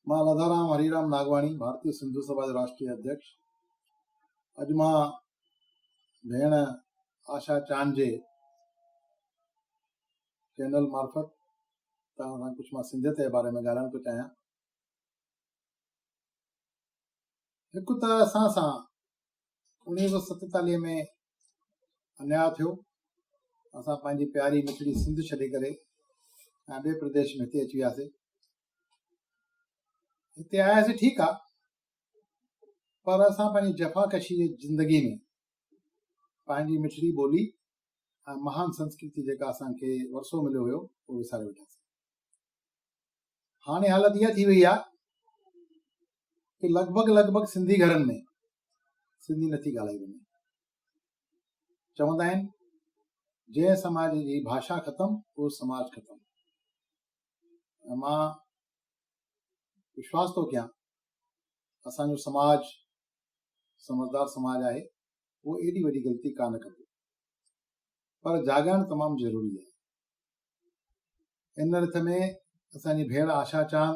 مان راڌارام هريرام ناگواڻي ڀارتي سنڌو سڀا جو راشٽري اڌيڪش اڄ مان ڀيڻ آشا چاند جي چينل معرفت توهان سان ڪجهه مان سنڌيت جي باري ۾ ڳالهائڻ ٿو چاهيان هڪ ته اسان سان انيس سو ستيتاليهه ۾ انيا ٿيو اسان پنهنجي پياري مٺڙي سنڌ ڇڏي ڪري ٻئي پرديش ۾ هتي اچي وياسي هتي آياسي ٺيڪ آ پر اسان پنهنجي جفا ڪشي جي زندگي ۾ پنهنجي مٺڙي ٻولي ۽ مهان سنسڪرتي جيڪا اسان کي ورسو مليو هيو اهو وساري ويٺاسي هاڻي حالت اها ٿي وئي آ ڪي لڳ ڀڳ لڳ ڀڳ سنڌي گهرن ۾ سنڌي نٿي ڳالهائي وڃي چوندا آهن جنهن سماج جي ڀاشا ختم اهو سماج ختم ۽ مان وشواس ٿو ڪيان اسان جو سماج سمجھدار سماج آهي اهو ايڏي وڏي غلطي ڪانه ڪندو پر جاڳائڻ تمام ضروري آهي ان رٿ ۾ اسان جي ڀيڻ آشا چاند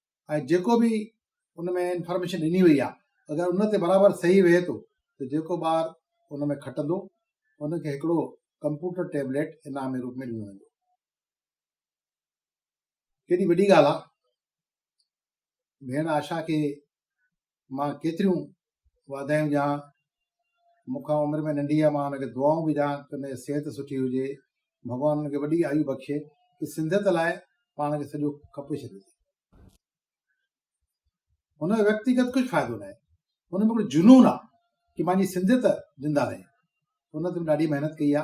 ۽ جيڪو به ان ۾ انفارميشن ڏني وئي آهي اگر ان تي برابر صحيح ويهي ٿو ته جيڪو ٻار ان ۾ کٽندو ان کي هڪڙو ڪمپيوٽر ٽيبليٽ انعام جي روپ ۾ ڏنو ويندو. ڪيڏي وڏي ڳالهه آهي ڀيڻ آشا کي مان ڪيتريون واڌايون ڏيان، مون کان عمر ۾ ننڍي آ، مان هن کي دعائون به ڏيان ته هن جي صحت سٺي هجي، ڀڳوان هن کي وڏي آيو بخشي ته سنڌيت لاء پاڻ کي سڄو کپي ڇڏيو ٿي. هن جو ويڪتيگت ڪجهه فائدو ناهي، هن ۾ هڪڙو جنون آ ڪي مانجي سنڌيت زنده رهي، هن تي ڏاڍي محنت ڪئي آ،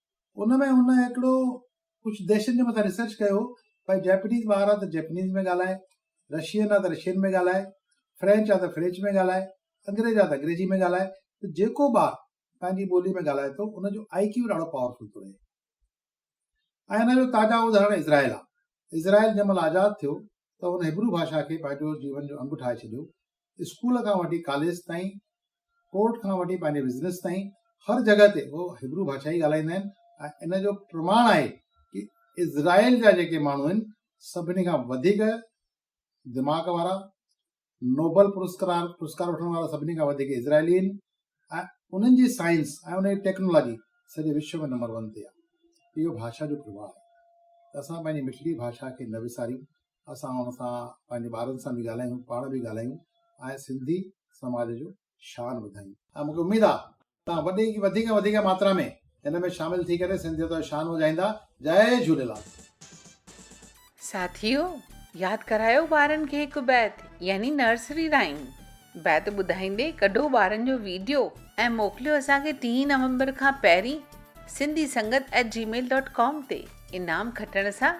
ان ۾ هن هڪڙو ڪجهه ديشن جي مٿان ريسرچ ڪيو ڀائي جئپنيز ٻار آ ته جئپنيز ۾ ڳالهائي، رشين آ ته رشين ۾ ڳالهائي، فرينچ آ ته فريچ ۾ ڳالهائي، انگريز آ ته انگريزي ۾ ڳالهائي ته جيڪو ٻار پنهنجي ٻولي ۾ ڳالهائي ٿو ان جو آئي ڪيو ڏاڍو پاورفل ٿو رهي. ۽ ان جو تازا ادهارڻ اسرائيل آ. اسرائيل جنهن مهل آزاد ٿيو ته هن هبرو ڀاشا کي پنهنجو جيون جو انگ ٺاهي ڇڏيو اسڪول کان وٺي ڪاليج تائين، ڪورٽ کان وٺي پنهنجي بزنس تائين هر جڳهه تي هو هبرو ڀاشا ئي ڳالهائيندا آهن ۽ ان جو پرماڻ آهي ته اسرائيل جا جيڪي ماڻهو آهن سڀني کان وڌيڪ دماغ وارا، نوبل پرسڪرار پرسڪار وٺڻ وارا سڀني کان وڌيڪ اسرائيلي آهن ۽ انهن جي سائنس ۽ انهن جي ٽيڪنالاجي سڄي وشو ۾ نمبر ون تي آهي اهو ڀاشا جو پرڀاء آهي ته اسان پنهنجي مٺڙي ڀاشا کي نه وساريون اسان هن سان پنهنجي ٻارن سان به ڳالهايون پاڻ به ڳالهايون ۽ سنڌي سماج جو شان وڌايون ۽ مونکي اميد آ توهان وڏي وڌيڪ کان وڌيڪ ماترا ۾ هن ۾ شامل ٿي ڪري سنڌيت جو شان وڌائيندا جئي جهوليلال. ساٿيو ياد ڪرايو ٻارن کي هڪ بيت يعني نرسري رائيم بيت ٻڌائيندي ڪڍو ٻارن جو ويڊيو ۽ موڪليو اسان کي ٽي نومبر کان پهرين سنڌي سنگت ائٽ جي ميل ڊاٽ ڪام تي انعام کٽڻ سان